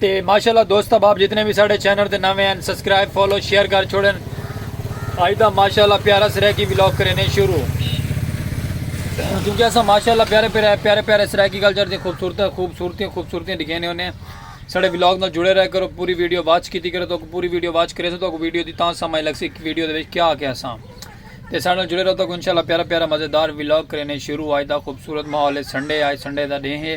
تے ماشاءاللہ دوست احباب جتنے بھی ساڑھے چینل دے نوے ہیں سبسکرائب فالو شیئر کر چھوڑن آج دا ماشاءاللہ پیارا سرائیکی ولاگ کرینے شروع کیونکہ اسا ماشاءاللہ پیارے پیارے پیارے پیارے سرائیکی کلچر دی خوبصورت خوبصورتی خوبصورتی دکھینے ہونے ساڑھے ولاگ نال جڑے رہ کرو پوری ویڈیو واچ کیتی کرو تو پوری ویڈیو واچ کرے سو تو ویڈیو دی تاں سمجھ لگ سی ویڈیو دے وچ کیا کیا سا تے ساڑھے جڑے رہو تو انشاءاللہ پیارا پیارا مزیدار ولاگ کرینے شروع آج دا خوبصورت ماحول ہے سنڈے آج سنڈے دا ڈے ہے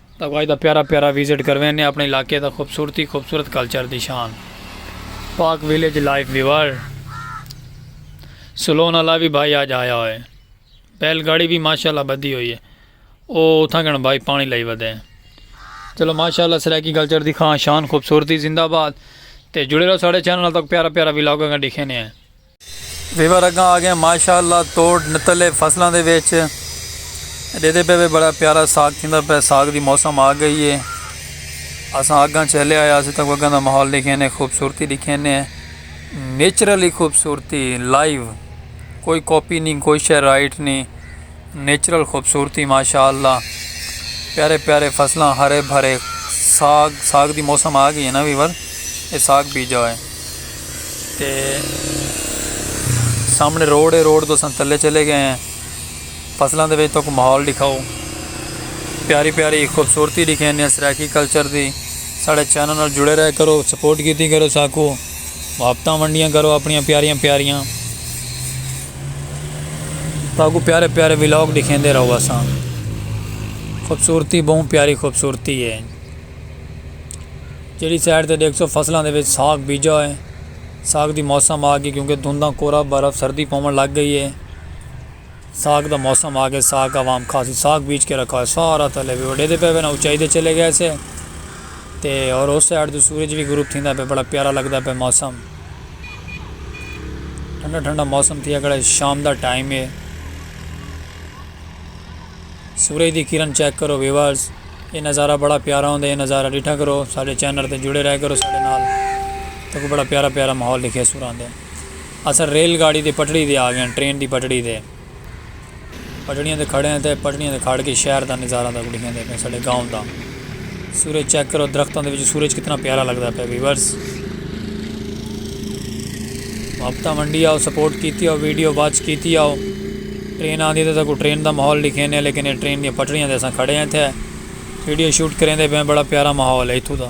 تاکوں اج دا پیارا پیارا وزٹ کروین نے اپنے علاقے دا خوبصورتی خوبصورت کلچر دی شان پاک ویلیج لائف ویور سلون والا بھی بھائی اج آیا ہوئے بیل گاڑی بھی ماشاءاللہ بدھی ہوئی ہے او اتھاں گن بھائی پانی لئی ودے چلو ماشاءاللہ سرائیکی کلچر دی خان شان خوبصورتی زندہ باد تے جڑے رہو ساڑے چینل تک پیارا پیارا ولاگوں گا دکھے نے ہیں ویور اگاں آگئے ماشاء اللہ توڑ نتلے فصلاں دے وچ ڈیدے پے وے بڑا پیارا ساگ تھیندا پے ساگ دی موسم آ گئی ہے اساں اگاں چلے آیا اساں تاں اگاں دا ماحول ڈیکھے نے خوبصورتی ڈیکھے نے نیچرلی خوبصورتی لائیو کوئی کاپی نہیں کوئی شے رائٹ نہیں نیچرل خوبصورتی ماشاءاللہ پیارے پیارے فصلاں ہرے بھرے ساگ ساگ دی موسم آ گئی ہے نا ویور اے ساگ بیجا ہوئے تے سامنے روڈ ہے روڈ تو سن تلے چلے گئے ہیں فصلاں دے وچ تو کو ماحول دکھاؤ پیاری پیاری خوبصورتی دکھیں نے سرائیکی کلچر دی ساڑے چینل نال جڑے رہے کرو سپورٹ کیتی کرو ساکو محبتاں ونڈیاں کرو اپنیاں پیاریاں پیاریاں۔ تہاکوں پیارے پیارے ولاگ ڈکھیندے رہو اساں۔ خوبصورتی بہوں پیاری خوبصورتی ہے۔ جیڑھی سائیڈ تے ڈیکھ سو فصلاں دے وچ ساگ بیجا ہے۔ ساگ دی موسم آ گئی کیونکہ دھنداں کورا برف سردی پوون لگ گئی ہے۔ ساگ دا موسم آ گئے ساگ عوام خاصی ساگ بیج کے رکھا ہوئے سارا تلے وی وڈے دے پے وینا اونچائی دے چلے گئے سے تے اور اس سائیڈ تو سورج وی غروب تھیندا پے بڑا پیارا لگدا پے موسم ٹھنڈا ٹھنڈا موسم تھیا کھڑا ہے شام دا ٹائم ہے سورج دی کرن چیک کرو ویورز یہ نظارہ بڑا پیارا ہوندا یہ نظارہ ڈٹھا کرو سارے چینل تے جڑے رہ کرو سارے نال تو بڑا پیارا پیارا ماحول دکھے سوران دے اساں ریل گاڑی دی پٹڑی تے آ گیاں، ٹرین دی پٹڑی تے۔ پٹڑیاں تے کھڑے آں تے پٹڑیاں تے کھڑ کے شہر دا نظارہ تہاکوں ڈکھیندے پیاں، ساڈے گاؤں دا۔ سورج چیک کرو، درختاں دے وچ سورج کتنا پیارا لگدا پیا ویورز۔ محبتاں ونڈی آؤ، سپورٹ کیتی آؤ، ویڈیو واچ کیتی آؤ۔ ٹرین آندی ہے تے تہاکوں ٹرین دا ماحول ڈکھیندے ہیں، لیکن اے ٹرین دیاں پٹڑیاں تے اساں کھڑے ہیں اتھے۔ ویڈیو شوٹ کریندے پیاں، بڑا پیارا ماحول ہے اتھوں دا۔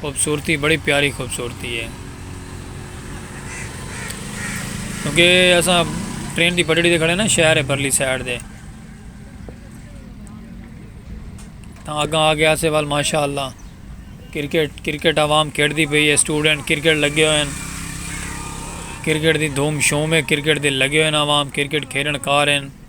خوبصورتی بڑی پیاری خوبصورتی ہے کیونکہ اساں ٹرین دی پٹڑی دے کھڑے نا شہر ہے پرلی سائڈ دے تاں اگاں آ گیا سے وال ماشاءاللہ کرکٹ کرکٹ عوام کھیڑ دی پئی ہے سٹوڈنٹ کرکٹ لگے ہوئے ہیں کرکٹ دی دھوم شوم ہے کرکٹ دے لگے ہوئے ہیں عوام کرکٹ کھیڑن کار ہیں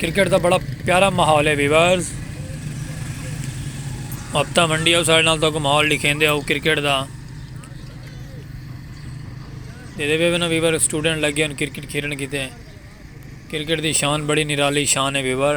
کرکٹ دا بڑا پیارا ماحول ہے ویورز ہفتہ منڈی آؤ سارے نال تو کو ماحول لکھیں دے آؤ کرکٹ دا جیدے بے بنا ویور سٹوڈنٹ لگے ان کرکٹ کھیلن کی تے کرکٹ دی شان بڑی نرالی شان ہے ویور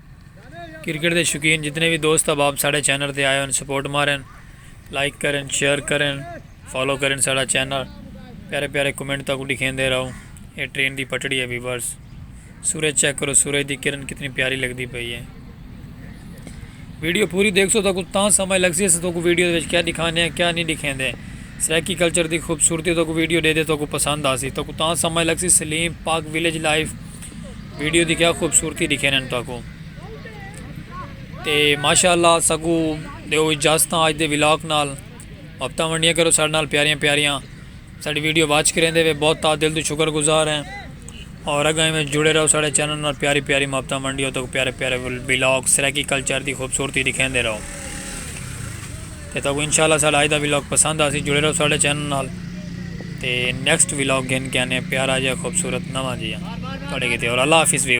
کرکٹ دے شوقین جتنے بھی دوست احباب ساڑھے چینل تے آئے ہوں سپورٹ ماریں لائک کریں شیئر کریں فالو کریں ساڑھا چینل پیارے پیارے کمنٹ تک لکھیں دے رہو یہ ٹرین دی پٹڑی ہے ویورز سورج چیک کرو سورج دی کرن کتنی پیاری لگ دی پئی ہے ویڈیو پوری دیکھ سو تک تاں سمجھ لگ سی تو کو ویڈیو دے وچ کیا دکھانے ہیں کیا نہیں دکھیں دے سریکی کلچر دی خوبصورتی تو کو ویڈیو دے دے تو کو پسند آ سی تو کو تاں سمجھ لگ سی Salim Pak village life video دی کیا خوبصورتی دکھے نن تاکو تے ماشاءاللہ سگو دیو اجازتاں آج دے ولاک نال وقتاں ونڈیاں کرو ساڑھ نال پیاریاں پیاریاں ساڑھی ویڈیو واچ کریں دے وے بہت تا دل دو شکر گزار ہیں اور اگر ہمیں جڑے رہو ساڑھے چینل نال پیاری پیاری مابتاں ونڈیاں تاکو پیارے پیارے ولاک سریکی کلچر دی خوبصورتی دکھیں دے رہو تے تہاکوں انشاءاللہ ساڈا اج دا ولاگ پسند آسی جڑے رہو ساڈے چینل نال تے نیکسٹ ولاگ گھن کے آنے پیارا جیہا خوبصورت نواں جیہا تہاڈے کیتے اور اللہ حافظ ویو۔